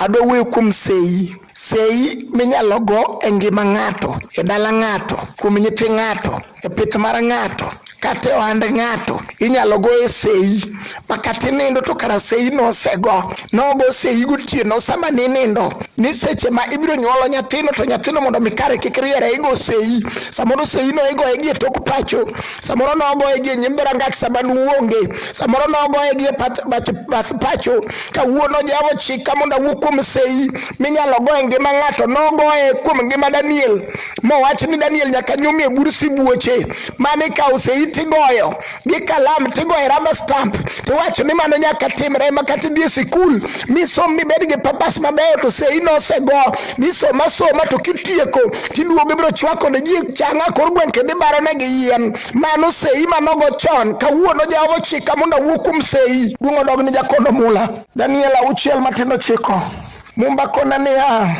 Adwa wuoyo kuom seyi. Seyi minyalo go e ngima ng'ato, e dala ng'ato, kuom nyithi ng'ato, e pith mar ng'ato, kata e ohand ng'ato. Inyalo go e seyi ma kata inindo to kara seyi no osego. Nogo seyi gotieno sama ninindo ni seche ma ibiro nyuolo nyathino to nyathino mondo mi kare kik riere igo seyi. Samoro seyi no igoye gi e tok pacho. samoro nogoye gi nyim dhorangach sama nuonge samoro nogoye gi bath pacho kawuono jehova ochika mondo awuo kuom sei minyalo goye ngima ng'ato nogoye kuom ngima daniel mowach ni daniel nyaka nyumi e bur sibuoche mane ikawo sei tigoyo gi kalam tigoye raba stamp tiwacho ni mano nyaka timre ma kata idhi e sikul misom mibed gi papas mabeyo to se inosego misom asoma to kitieko tiduogo ibiro chwako ne ji changa kor gweng' kendo ibaro ne gi yien mano sei manogo chon kawuono jehova ochika mondo awuo kuom sei duong' odog ni jakono mula daniel auchiel matindo chiko mumba kona niya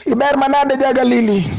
iber manade ja galili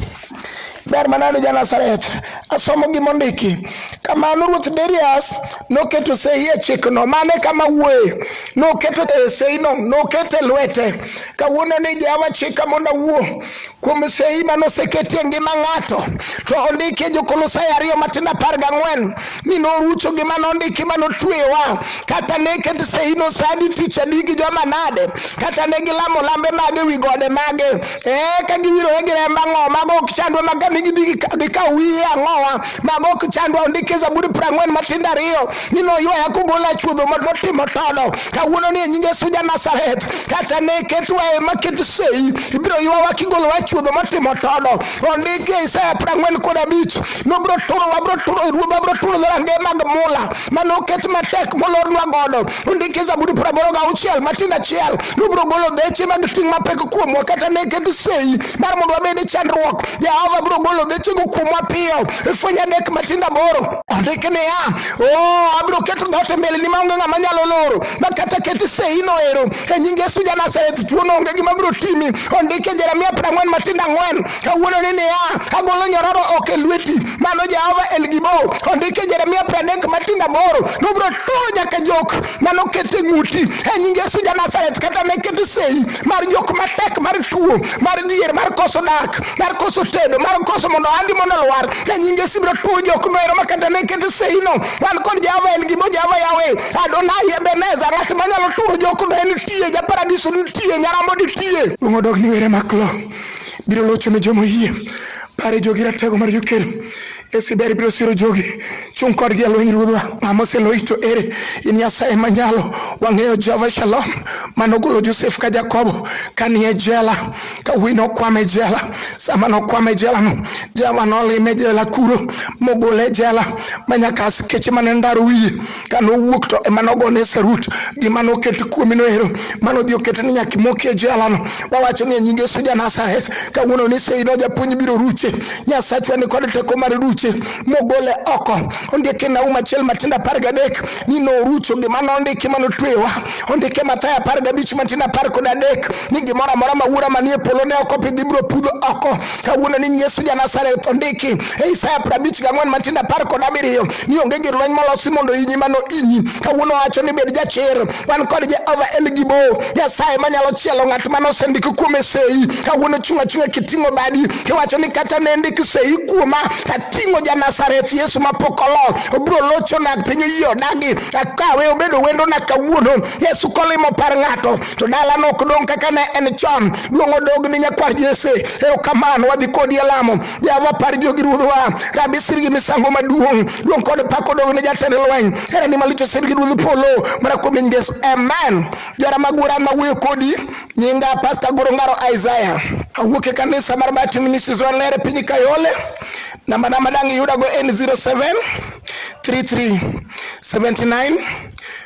Ber manade ja Nazareth. Asomo gima ondiki. Kamano Ruoth Darius noketo sei e chikno mane kama wuoye. Noketo e seino, nokete lwete. Kawuono ni Jehova chika mondo awuo kuom sei mane oseketi e ngima ng'ato. To ondiki e Jokolosai ariyo matindo apar gang'wen ni norucho gima nondiki mane otwewa. Kata ne ket seino sadi tich adi gi joma nade. Kata ne gilamo lambe mage wi gode mage. Eh, ka giwirore gi remb ang'owa mago ok chandwa ma kane gidhi gikaw wiye ang'owa mago ok chandwa ondik e zaburi piero ang'wen matindo ariyo ni noywaya kogola chuodho notimo todo kawuono ni e nying yesu ja nazareth kata ne ketwa e ma ket sei ibiro ywawa kigolowa chuodho motimo todo ondik e isaya piero ang'wen kod abich nobiro turowa biro turo ruodhwa biro turo dhorange mag mula mane oket matek molornwa godo Ondiki Zaburi praboro ga auchiel matin achiel nubiro golo dheche mag ting' mapek kuomwa kata ne ket sei mar mondo wabed e chandruok. Jehova biro golo dhechego kuomwa piyo. Ifwenyo adek matindo aboro. Ondiki niya, oh, abiro keto dhoot e mbeleni maonge ng'ama nyalo loro ma kata ket sei noero. E nying Yesu ja Nazareth, tuono onge gima biro timi. Ondiki Jeremia prang'wen matindo ang'wen. kawuono ni niya, agolo nyororo ok e lweti. Mano Jehova El Gibo ondike Jeremia pradek matin aboro nobiro turo nyaka jok mane oket e ng'uti e nying Yesu ja Nazareth kata ne ket sei mar jok matek mar tuo mar dhier mar koso dak mar koso tedo mar koso mondo andi mondo lwar e nying Yesu biro turo jok noero ma kata ne ket sei no wan kod Jehova El Gibo Jehova Yahweh Adonai Ebenezer ng'at manyalo turo jok no en tie ja paradiso nitie nyarombo nitie. Ung'odok ni were maklo. biro locho ne joma oyie. Pare jogi ratego mar jokedo esi ber biro siro jogi chung' kodgi e lweny ruodhwa mama oseloyi to ere in nyasaye manyalo wang'eyo jehova shalom mane ogolo josef ka jakobo kanie jela ka wuoyi nokwame jela sama nokwame jelano jehova nolime jela kuro mogole jela manyaka askeche mane ndaro wiye ka nowuok to ema nogone sarut gima noket kuomi noero ma nodhi oket ni nyaka imoki e jelano wawacho ni e nying Yesu ja Nazareth kawuono ni sei no japuonj biro ruche Nyasachwa ni kod teko mar ruche mogole oko ondike Naum achiel matindo apar gadek ni norucho gima nondiki ma notweyowa ondike Mathayo apar gabich matindo apar kod adek ni gimoro amora ma wuora manie polo ne ok opidhi biro pudho oko kawuono ni Yesu ja Nazareth ondiki e Isaya prabich gang'wen matindo apar kod abiriyo ni onge gir lweny molosi mondo inyi mano inyi. Kawuono wacho ni bed jachir, wan kod Jehova El Gibo, Nyasaye manyalo chielo ng'at mane osendiki kuome sei. Kawuono chung' achung'a kiting'o badi kiwacho ni kata ne ndik sei kuoma tating'o ja Nazareth Yesu mapok olo obiro lochona piny oyie odagi akawe obedo wendona kawuono Yesu kolimo par ng'ato to dalano ok dong' kaka ne en chon duong' odog ni nyakwar jese erokamano wadhi kodi e lamo jehova par jogi ruodhwa rabi sirgi misango maduong' duong' kod pak odog ne jatend lweny herani malicho sirgi ruodh polo mana kuom nying yesu amen jora magura mawuoyo kodi nyinga pasta gorongaro isaya awuok e kanisa mar batin ministries wanlere piny kayole namba na madang' iyudago en 07 33 79